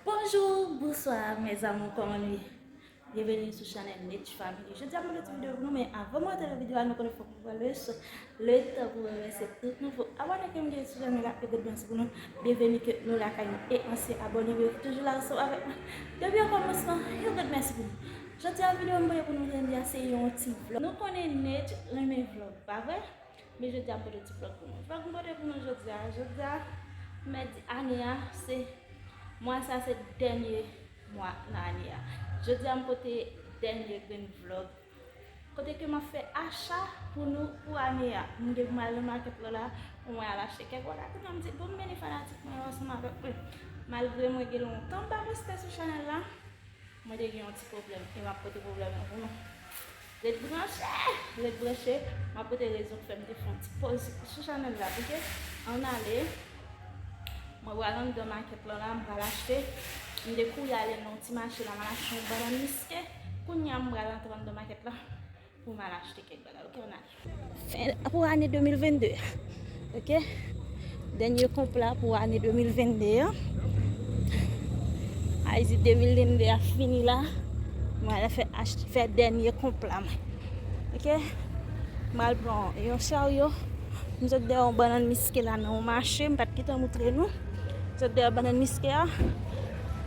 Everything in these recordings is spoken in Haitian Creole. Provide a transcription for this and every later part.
Bonjour, bonsoir mes amours kòman nou ye? Byenveni sou chanèl Nech Family Jodi a mwen gen ti video pou nou men avan mwen antre nan video a nou konnen fòk mwen pran le so le tan pou mwen remèsye tout nouvo abòne ke m gen sou chanèl la e good bens pou nou Byenveni ke nou lakay nou e ansyen abòne yo ki toujou la ansanm avèk mwen depi o kòmansman yon gwo mèsi pou nou Jodi a video m voye pou nou jodi a se yon ti vlog Nou konnen Nech renmen vlog pa vre? Men jodi a m pote ti vlog pou nou. Vlog m pote pou nou jodi a. Jodi a mèdi ane a se mwa sa se dènye mwa nan ane a. Jodi a m pote dènye grenn vlog. Kote ke m ap fè acha pou nou pou ane a. M gen pou m al nan makèt lò la pou mwen al achte kèk bagay pou nou. M di bon m mennen fanatik mwen yo ansanm avèk mwen. Malgre mwen gen lontan m pa poste sou chanèl la. Mwen te gen yon ti pwoblèm. E m ap pote pwoblèm lan pou nou. Ret branche! Ret branche! M ap pote rezon k fè m te fè yon ti pòz sou chanèl la. Ok! Ann ale! Mwen pral anndan makèt lan la, m pral achte. M te kouri ale nan yon ti mache la, m al achte yon bannann miske. Kounye a, m pral antre anndan makèt la pou m al achte kèk bagay. Ok, ann ale! Pou ane 2022 a. Ok Dènye konp la pou ane 2022 an Ayiti 2022 ap fini la Mwen al fè acht fè dènye konp la mwen Ok Mwen al pran yon charyo M sot dèyè yon bannann miske la nan yon mache M pat gen tan moutre nou M sot dèyè bannann miske a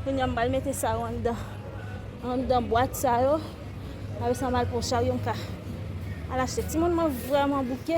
Kounye a m pral mete sa yo anndan anndan bwat sa yo Apre sa m al pran yon charyo m ka al achte Timoun mwen vrèman bouke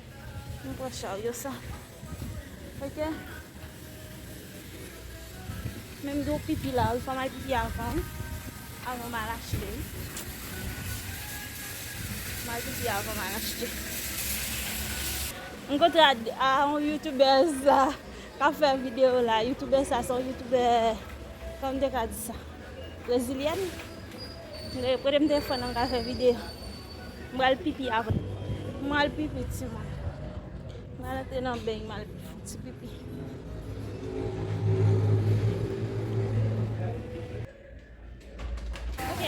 Nou pran charyo sa. Ok. Menm do pipi la, ou fòm al pipi avan. Avan mal achte. Mal pipi avan mal achte. M kontre a yon youtubèz la ka fè video la. Youtubèz sa son youtubè. Kòm de ka di sa. Brezilyèn. Kote m te fè nan ka fè video. M pral pipi avan. M al pipi ti moun. M al antre nan beny m al fè ti pipi. Ok.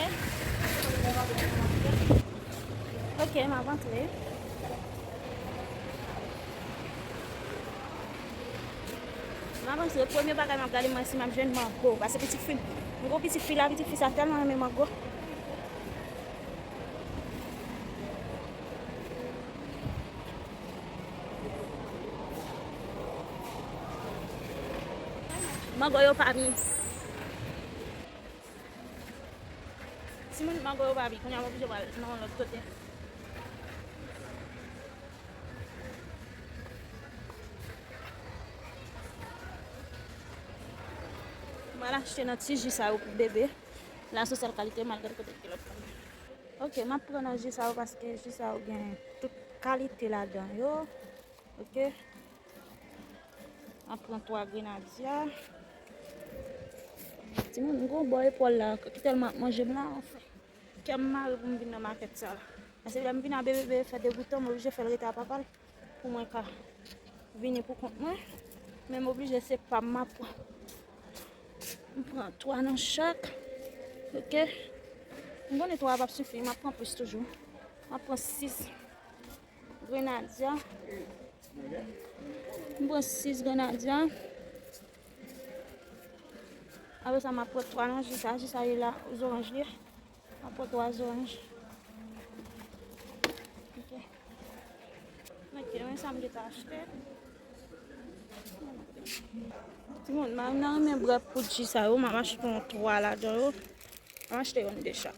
Ok m ap antre. M ap antre, premye bagay m ap gade mwen si m ap jwenn mango. Pase pitit fi m, m gen yon pitit fi la, pitit fi sa tèlman renmen mango. Mango yo pa mince. Timoun mango yo pa bi, kounya m oblije pral nan yon lòt kote. M pral achte nan ti ji sa yo pou bebe. La se sèl kalite m al gade kote ki lòt kalite. Ok, m ap pran nan ji sa yo paske ji sa yo gen tout kalite ladan yo. Ok. An pran 3 grenadya. Ti moun m gon bò epòl la ki tèlman ap manje m la anfen. Kè m mare pou m vin nan makèt sa la. Pase lè m vin a bebe fè degoutan m oblije fè l rete a papa l pou mwen ka vini pou kont mwen. Men m oblije se pa m m ap pran. M pran 3 nan chak. Ok. M konnen 3 a p ap sifi m ap pran plis toujou. M ap pran 6. Grenadya. M pran 6 grenadya. Apre sa m ap pran 3 nan ji sa. Ji sa ye la zoranj li. M ap pran 3 zoranj. Ok. Ok, men sa m te ta achte. Ti moun, m nan renmen bwè poud ji sa yo. M ap achte yon 3 ladan yo. M ap achte yon 2 chak.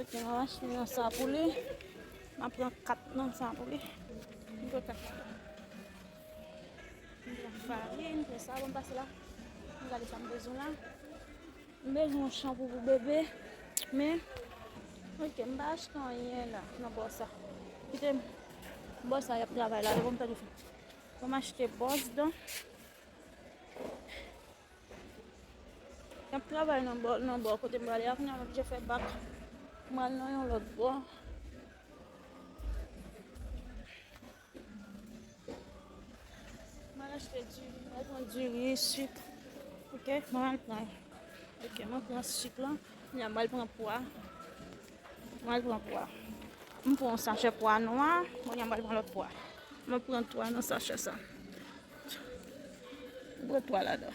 Ok mwen achte yon sa pou li. Mwen pran 4 nan sa pou li. Mwen pran 4 nan. Mwen pran farin, mwen pran savon pase la. Mwen gade sa mwen bezwen la. Mwen bezwen yon shampoo pou bebe. Men, ok mwen pa achte anyen la nan bò sa. Kite m. Bò sa yap travay la. Mwen achte bòs dan. Nap travay nan bò, nan bò kote m prale a kounye a m oblije fè bak pou m al nan yon lòt bò. M al achte diri, m al pran diri, sik, ok, m al pran, ok, m al pran sik lan, kounye a m al pran pwa. Mwen pran pwa. M pran yon sachè pwa nwa. Kounye a m pral pran lòt pwa. Mwen pran 3 nan sachè sa. M pran 3 ladan.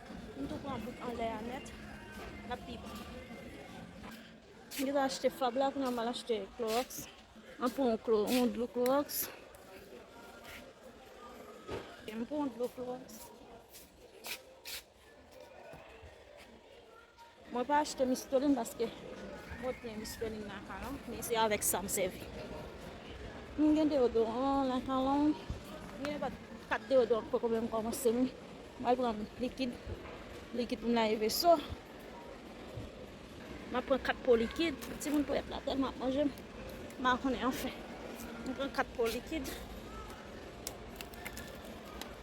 M tou pran bout anlè a nèt lap pi bon. M gentan achte fab la kounya mal achte klorox. Mwen pran yon klo yon dlo klorox. M pran yon dlo klorox. Mwen pa achte mistolin paske mwen plen mistolin nan kay lan, men se avèk sa m sèvi. M gen deodoran nan kay lan, m gen nenpòt kat deodoran ki poko menm kòmanse m. M al pran likid, likid pou m lave veso. M ap pran 4 po likid, timoun ponyèt la tèlman ap manje m, m pa konnen anfen. M pran 4 po likid.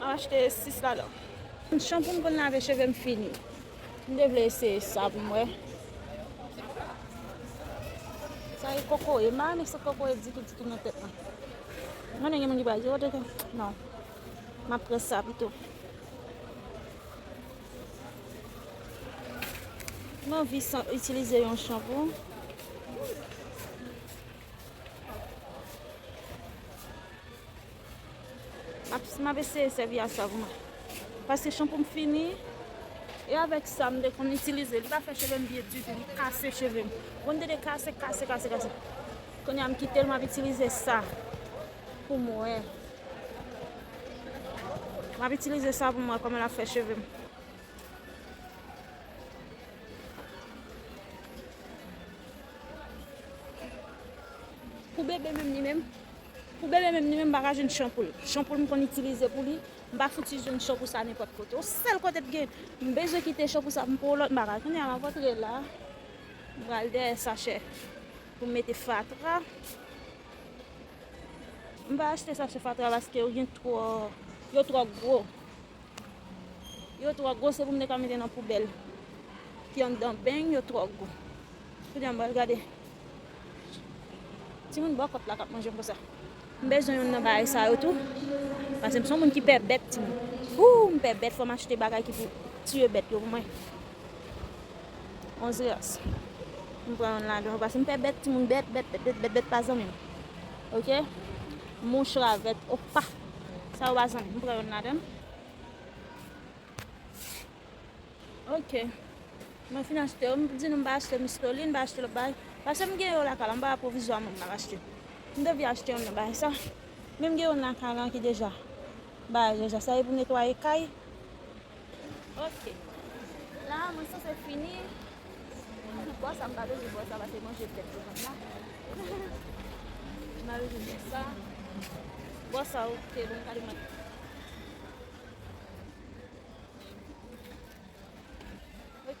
Map achte 6 ladan. Chanpoum konn lave chevem fini. M te vle eseye sa pou m wè. Sa e kokoye. M pa renmen sant kokoye ditou ditou nan tèt mwen. M konnen gen moun ki pral di ou te konn. Non. Map pran sa pito. M anvi itilize yon chanpou. Atis map eseye sèvi a sav mwen pase chanpou m fini e avèk sa m te konn itilize li pa fè cheve m byen ditou li kase cheve m bon li te de kase kase kase kase kounye a m kite l map itilize sa pou m wè map itilize sa pou m wè kòman lap fè cheve m. Pou bebe menm li menm. Pou bebe menm li menm m pa ka jwenn chan pou l. Chan pou l m konn itilize pou li, m pa fouti jwenn chan pou sa nenpòt kote. On sèl kote t gen, m bezwen kite chan pou sa m pou on lòt m pa ka. Kounye a m ap antre la, m pral dèyè sachè pou m mete fatra. M pa achte sachè fatra paske yo gen twò, yo twò gwo. Yo tro gwo se pou m te ka mete nan poubèl ki anndan beny yo tro gwo. Kounye a m pral gade. Timoun bò kòt la k ap manje m konsa. M bezwen youn nan bagay sa yo tou. Pase m son moun ki pè bèt timoun. Ooh m pè bèt fò m achte bagay ki pou tiye bèt yo pou mwen. 11 rès. M pran youn ladan yo pase m pè bèt timoun bèt bèt bèt bèt bèt bèt pa zanmi m. Ok. Mouch ravèt opa. Sa yo a zanmi. M pran youn ladan. Ok. Mwen fin achte yo. M di nou m pa achte mistolin, m pa achte lòt bagay. Pase m gen yo lakay la. M pa wè pwovizwa moun nan achte. M te vle achte youn nan bagay sa. Men m gen youn lakay la ki deja. Bagay deja. Sa e pou netwaye kay. Ok la mwen sanse fini Bò sa m pa bezwen bò sa pase m manje tèt devan m la M pa bezwen bò sa Bò sa ok bon m pral manje Ok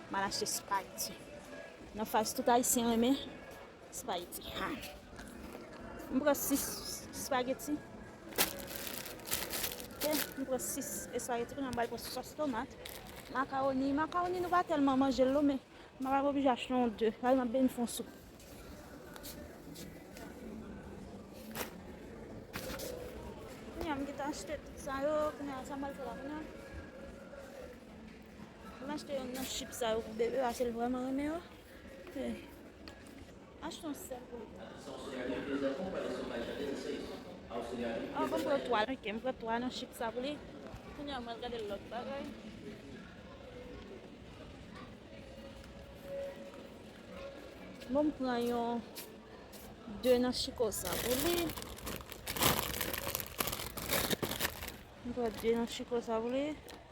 Mal achte spaghetti nan fas tout ayisyen renmen spaghetti ha m pran 6 spaghetti ok m pran 6 spaghetti kounye a m bal pran sos tomat macaroni macaroni nou pa tèlman manje l non men m pa oblije achte yon 2 sa vle m ap beni fè yon soup kounye a m gentan achte tout sa yo kounye a sa m bal fè la kounye a M achte yonn nan chip sa yo pou bebe paske l vrèman renmen yo. Achte yon sèl pou li. An bon m pran 3. Ok m pran 3 nan chip sa pou li. Kounya m pral gade lòt bagay. Bon m pran yon 2 nan chiko sa pou li. M pran 2 nan chiko sa pou li.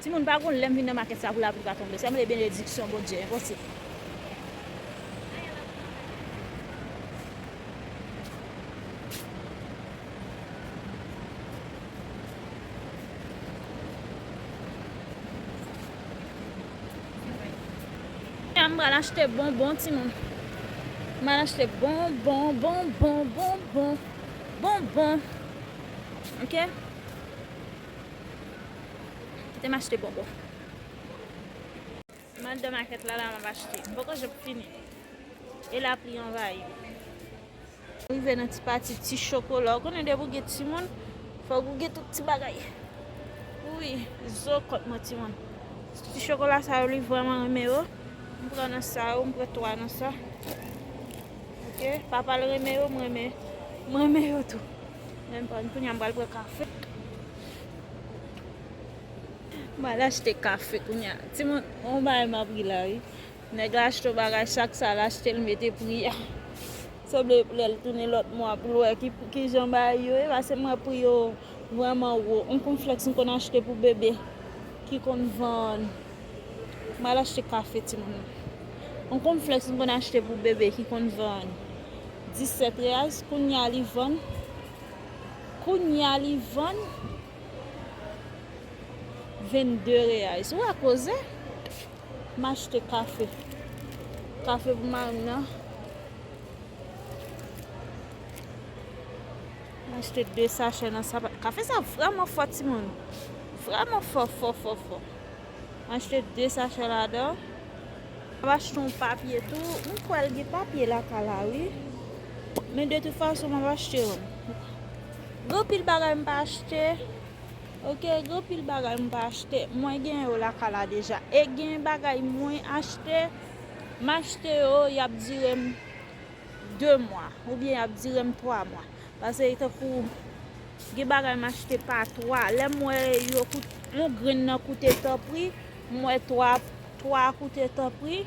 Timoun pa gon lèm vin nan makèt sa pou lapli pa tonbe sèm le benediksyon Bondye enposib. M pral achte bonbon timoun. M pral achte bonbon, bonbon, bonbon, bonbon. Ok? Kite m achte bonbon. M anndan makèt la la m ap achte. M poko janm fini. E lapli anvayi m. M rive nan ti pati ti chokola. Ou konnen depi ou gen timoun, fòk ou gen tout ti bagay. Wi, zo kont mwen timoun. Ti chokola sa yo li vrèman renmen yo. M pran nan sa yo, m pran 3 nan sa. Ok, papa l renmen yo, m renmen yo tou. Menm pa kounye a m pral pran kafe. M pral achte kafe kounye a. Ti moun, on bagay m apri la wi. Nèg la achte on bagay chak sa l achte l mete pri a. Sanble lè l tounen lòt mwa pou l wè ki jan bagay yo ye pase m wè pri yo vrèman wo. On konflèks m konn achte pou bebe ki konn vann. M pral achte kafe ti moun. On konflèks m konn achte pou bebe ki konn vann. 17 reals kounya li vann kounya li vann 22 reais ou wè koze m achte kafe kafe pou marim nan m achte 2 sachè nan sa kafe sa vreman fò timoun vreman fò fò fò fò m achte 2 sachè ladan Map achte yon papye tou. M kwèl gen papye lakay la wi. Men de tout fason map achte yon. Gen anpil bagay m pa achte. Ok gen anpil bagay m pa achte. Mwen gen yo lakay la deja. E gen bagay mwen achte. M achte yo yap direm 2 mwa. Ou byen yap direm 3 mwa. Pase e tankou. Gen bagay m achte pa 3. Lem wè yon grenn nan koute tanpri. M wè 3. 3 a koute tanpri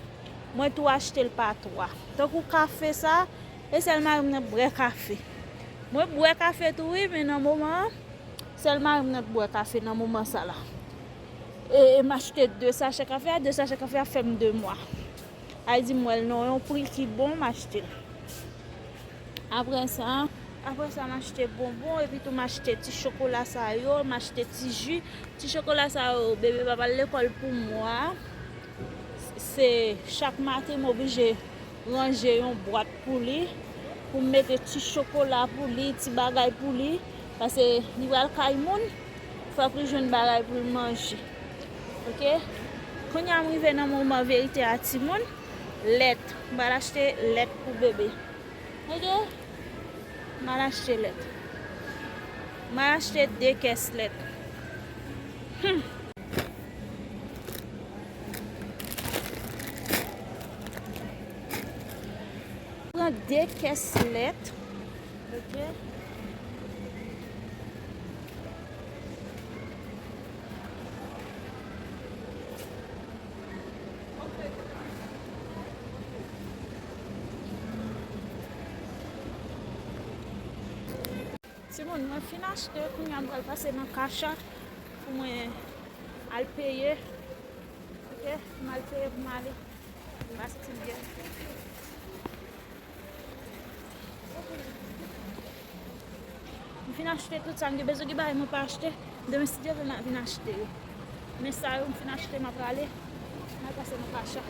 Mwen tou achtel pa 3. Tankou kafe sa e sèl marim nan k brè kafe mwen k bwè kafe tou wi men nan moman an sèl marim nan k bwè kafe nan moman sa la e m achte 2 sachè kafe a 2 sachè kafe a fèm 2 mwa Ayiti m wèl nan yon pri ki bon m achtel. Apre sa? Apre sa, m achte bonbon, epitou m achte ti chokola sa yo, m achte ti ji. Ti chokola sa yo, bebe pa pral lekòl pou mwa. Se chak maten m oblije ranje yon bwat pou li, pou m mete ti chokola pou li, ti bagay pou li. Pase li pral kay moun, fòk li jwenn bagay pou l manje. Ok? Kounye a m rive nan moman verite a timoun. lèt m pral achte lèt pou bebe ok m al achte lèt m al achte 2 kès lèt humm. Pran 2 kès lèt ok Timoun mwen fin achte kounye a m pral pase nan kacha pou mwen al peye. Ok, m al peye pou m ale. M pase ti byen. M fin achte tout sa m gen bezwen. Gen bagay mwen pa achte. Demen si Dye vle ma vin achte yo. Men sa yo m fin achte ma prale. Mal pase nan kacha.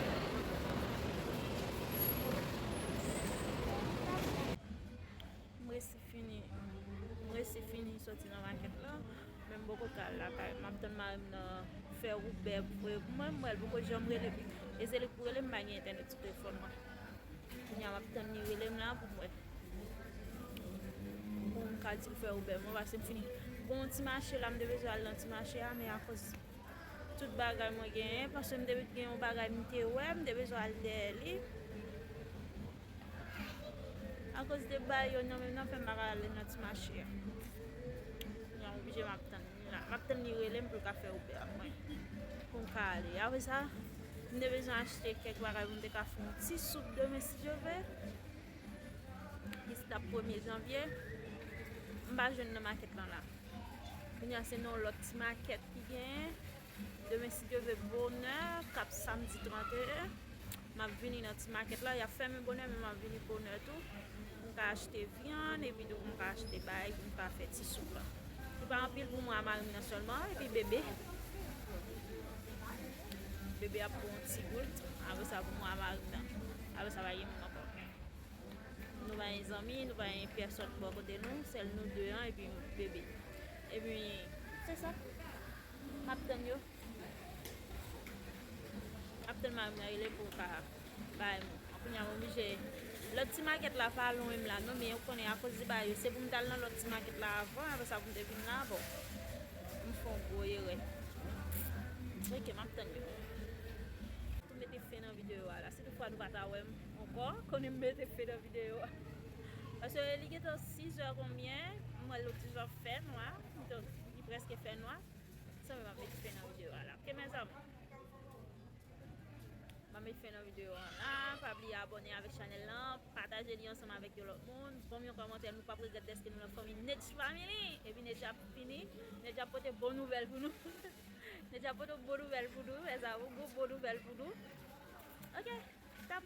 M resi fini soti nan makèt la Men m poko ka al lakay M ap tann marim nan fè wout bè Mwen m wè l poko janm rele m E se li k pou rele m m pa gen entènèt sou telefòn mwen Kounya map tann li relem la pou mwen pou m ka dil fè Uber mwen pase m fini gon yon ti mache la m te bezwen al nan ti mache a men akoz tout bagay mwen genyen pase m te gen yon bagay m te wè m te bezwen al dèyè li akoz de bayon nan menm nan fè m pa ka al nan ti mache a kounya m oblije map tann. Map tann li relem poul ka fè Uber ak mwen pou m ka ale. Apre sa, m te bezwen achte kèk bagay pou m te ka fè yon ti soup demen si Dye ve. Ki se tap premye janvye. M pa jwenn nan makèt lan la. Kounya se nan yon lòt ti makèt ki genyen. Demen si Dye vle bonè kap samdi 31 map vini nan ti makèt la yap fèmen bonè men map vini bonè tou pou m ka achte vyann epi tou pou m ka achte bagay pou m ka fè ti soup la li pa anpil pou mwen a mari m nan sèlman epi bebe bebe ap pran yon ti goute apre sa pou mwen a mari m nan apre sa pa gen moun ankò nou pa gen zanmi nou pa gen pèsòn bò kote nou sèl nou 2 an epi bebe epi se sa. Map tann yo. Map tann marim nan rele poum ka bay moun an kounya m oblije lòt ti makèt la pa lwen m la non men ou konnen akoz li bay yo se poum tal nan lòt ti makèt la avan apre sa poum te vin la bon m fon gwo erè ok map tann yo. Tou mete fen nan video a la si tout fwa nou pata wèm ankò konnen m mete fen nan video a paske li gentan 6 è konbyen m wè lòt ti jan fè nwa. Li preske fè nwa. San mwen map met fen nan video a la. Ok mes amour. Mwen met fen nan video a la. Pa bliye abone avek chanel la. Pataje li ansanm avek yo lot moun. Banm yon komante nou pap regret deske nou nan fanmi Nedjy family. Epi Nedjy ap fini. Nedjy ap pote bon nouvel pou nou. Nedjy ap pote bon nouvel pou nou mes amour. Gwo bon nouvel pou nou. Ok. Tap.